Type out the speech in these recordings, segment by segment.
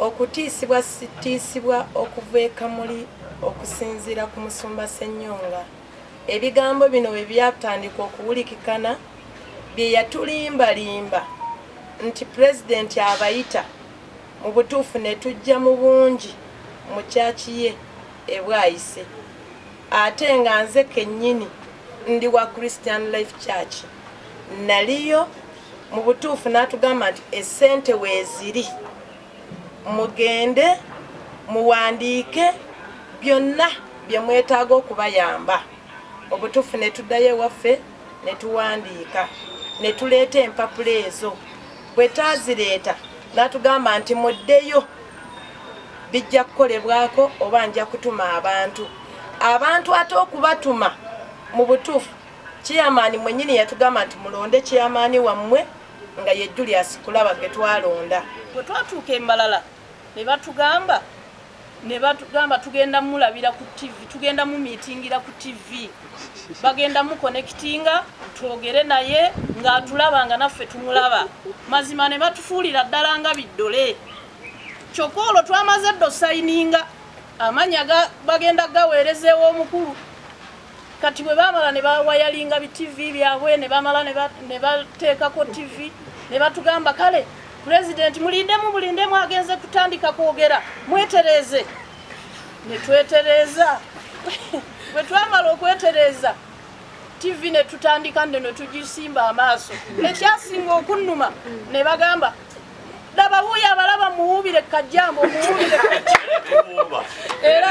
Okutiisibwa sitiisibwa okuva e Kamuli okusinziira ku musumba Ssenyonga ebigambo bino bwe byatandika okuwulikikana bye yatulimbalimba nti Pulezidenti abayita mu butuufu ne tujja mu bungi mu church ye e Bwaise ate nga nze kennyini ndi wa Christian Life Church naliyo mu butuufu n'atugamba nti essente weeziri mugende muwandiike byonna bye mwetaaga okubayamba obutuufu ne tuddayo ewaffe ne tuwandiika ne tuleeta empapula ezo bwe taazireeta n'atugamba nti muddeyo bijja kukolebwako oba nja kutuma abantu abantu ate okubatuma mu butuufu Chairman mwenyini yatugamba nti mulonde chairman wammwe nga ye Julius Kulaba gwe twalonda. Bwe twatuuka e Mbalala ne batugamba ne batugamba tugenda mulabira ku TV, tugenda mu miitingira ku TV, bagenda mu konekitinga twogere naye ng'atulaba nga naffe tumulaba. Mazima ne batufuulira ddala nga biddole. Kyokka olwo twamaze dda osayininga amanya bagenda gaweereza ew'omukulu. Kati bwe baamala ne bawayalinga bi ttivi byabwe ne bamala ne bateekako ttivi ne batugamba kale pulezidenti mulindemu bulindemu agenze kutandika kwogera mwetereeze ne twetereeza bwe twamala okwetereeza ttivi ne tutandika nde ne tugisimba amaaso ekyasinga okunnuma ne bagamba laba wuuyo abalaba muwuubire kajjambo muwuubire era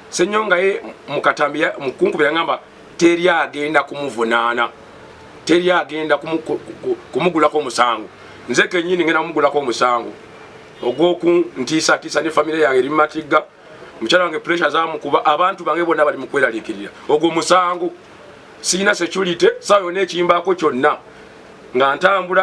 Senyonga ye mukatambi ya mukunkubira ngamba teri agenda kumuvunaana teri agenda kumugulako omusango nze kenyini ngenda kumugulako omusango ogwoku ntiisa tiisa ne famire yange eri mumatigga mukyala wange pressure zamukuba abantu bange bonna bali mukweralikirira ogwo musango sirina security sawa yona ekimbako kyonna nga ntambula